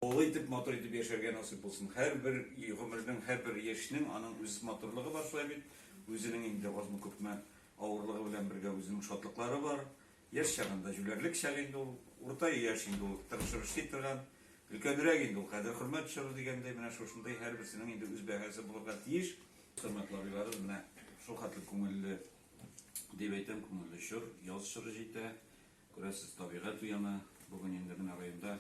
Олы итеп, матур итеп яшәргә насыйп булсын. Һәрбер гомернең, һәрбер яшьнең аның үз матурлыгы бар шулай бит. Үзенең инде азмы-күпме авырлыгы белән бергә үзенең шатлыклары бар. Яшь чагында җүләрлек чагы инде ул, урта яшь инде ул, тырышыр эшли торган. Өлкәнрәк инде ул, кадер хөрмәт төшерер дигәндәй, менә шушындый һәрберсенең инде үз бәһасе булырга тиеш. Хөрмәтле абыйларым, менә шулхәтле күңелле, дип әйтәм, күңелле чор, яз чоры җитә. Күрәсез, табигать уяна. Бүген инде менә районда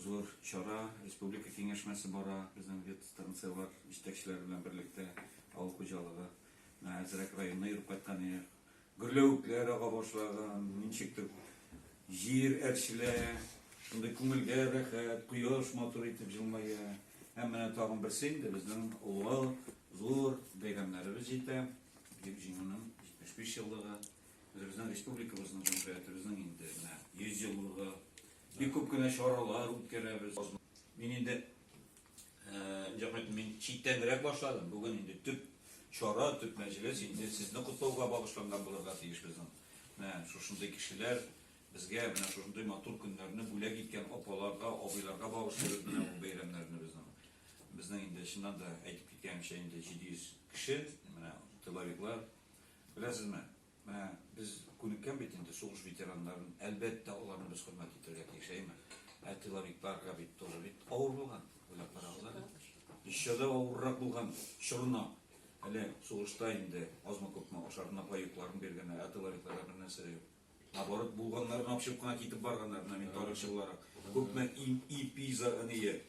зур чара, республика киңәшмәсе бара, безнең ветстанцияләр җитәкчеләре белән берлектә авыл хуҗалыгы. Менә әзрәк районны йөреп кайткан идек. Гөрләвекләр ага башлаган, ничектер җир әрчелә, шундый күңелгә рәхәт, кояш матур итеп җылмая. Һәм менә тагын берсе инде безнең олы, зур бәйрәмнәребез җитә. Дип җиңүнең 75 еллыгы. Үзебезнең республикабызның җөмһүриятебезнең инде менә 100 еллыгы. Бик күп кенә чаралар үткәрәбез. Мин инде җәмәгать мин читтәнрәк башладым. Бүген инде төп чара, төп мәҗлес инде сезне котлауга багышланган булырга тиеш безнең. Менә шушындый кешеләр безгә менә шушындый матур көннәрне бүләк иткән апаларга, абыйларга багышлыйбыз менә бу бәйрәмнәрне безнең. Безнең инде чыннан да әйтеп киткәнемчә инде 700 кеше, менә тыловиклар Беләсезме, менә без күнеккән бит инде сугыш ветераннарын, әлбәттә, аларны без хөрмәт итәргә тиеш, әйеме? Ә тыловикларга бит тоже бит авыр булган, уйлап карагыз әле. Еще да авыррак булган чорына, әле сугышта инде азмы-күпме ашарына паекларын биргәннәр, ә тыловикларга бернәрсә дә юк. Оборот булганнар гына очып кына китеп барганнар, менә мин тарихчы буларак. Күпме ИП ие,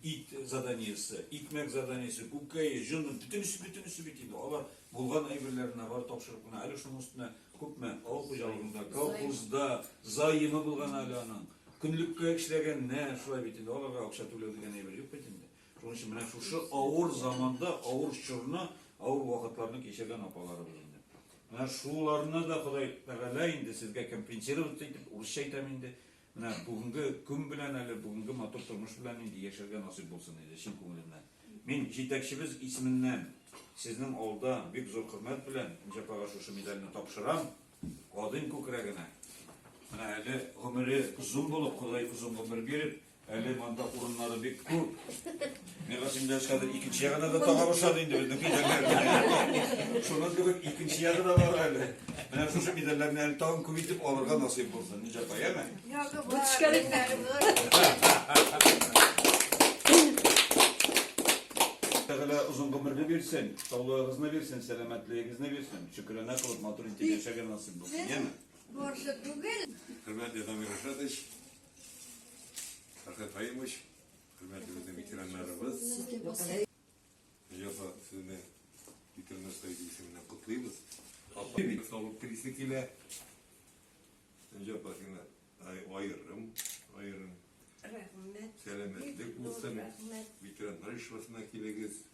ит заданиесе, икмәк заданиесе, күкәе, җон, бөтенесе, бөтенесе бит инде. Алар булган әйберләренә бар тапшырып кына, әле шуның өстенә күпме авыл хуҗалыгында, колхозда заемы булган әле аның. Көнлеккә эшләгәннәр, шулай бит инде, аларга акча түләү дигән әйбер юк бит инде. Шуның өчен менә шушы авыр заманда, авыр чорны, авыр вакытларны кичергән апаларыбыз инде. Менә шуларны да Ходай Тәгалә инде сезгә компенсировать итеп, урысча әйтәм инде, менә бүгенге көн белән әле, бүгенге матур тормыш белән инде яшәргә насыйп булсын иде, чын күңелемнән. Мин җитәкчебез исеменнән сезнең алда бик зур хөрмәт белән Нҗапага шушы медальне тапшырам, Кадыйм күкрәгенә. Менә әле гомере озын булып, Ходай озын гомер биреп, Әле монда урыннары бик күп. Мин рәсемдә хәзер икенче ягына да тагар ошады инде безнең көйләр. Шуның кебек икенче ягы да бар әле. Менә шушы медальләрне әле тагын күп итеп алырга насыйп булсын, Нинҗа апа, яме? Ягы бар. Тәгалә озын гомерне бирсен, саулыгыгызны бирсен, сәламәтлегегезне бирсен. Шөкерана кылып матур итеп яшәгән насыйп булсын, яме? Борчы түгел. Хөрмәтле Дамир Рашатович, Фәрхәт Хаимович, хөрмәтле безнең ветераннарыбыз. Җафа сезне ветераннар союзы исеменнән котлыйбыз. Бик саулык телисе килә. Җафа сиңа аерым, аерым. Рәхмәт. Сәламәтлек булсын. Ветераннар ишбасына килегез.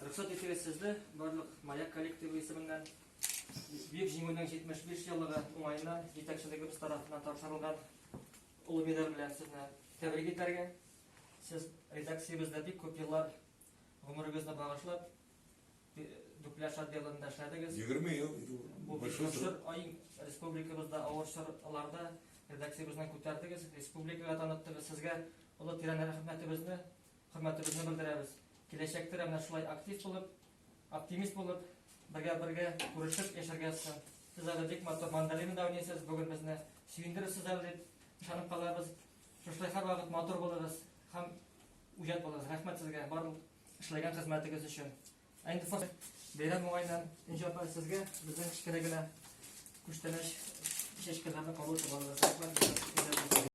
Рөхсәт итегез сезне барлык Маяк коллективы исеменнән Бөек Җиңүнең 75 еллыгы уңаена җитәкчелегебез тарафыннан тапшырылган олы медаль белән сезне тәбрик итәргә. Сез редакциябездә бик күп еллар гомерегезне багышлап Дүпләш отделында эшләдегез. 20 ел. Бу бик зур ай республикабызда авыр чорларда редакциябезнең күтәрдегез, республикага таныттыгыз. Сезгә олы тирән рәхмәтебезне Хөрмәтебезне белдерәбез. Киләчәктә дә менә шулай актив булып, оптимист булып, бергә-бергә күрешеп яшәргә язсын. Сез әле бик матур мандолина да уйныйсыз, бүген безне сөендерерсез әле дип ышанып калабыз. Шушылай һәрвакыт матур булыгыз һәм үҗәт булыгыз. Рәхмәт сезгә барлык эшләгән хезмәтегез өчен. Ә инде фор бәйрәм уңаеннан Энҗе апа сезгә безнең кечкенә генә күчтәнәч чәчкәләрне кабул итеп алыгыз. Рәхмәт.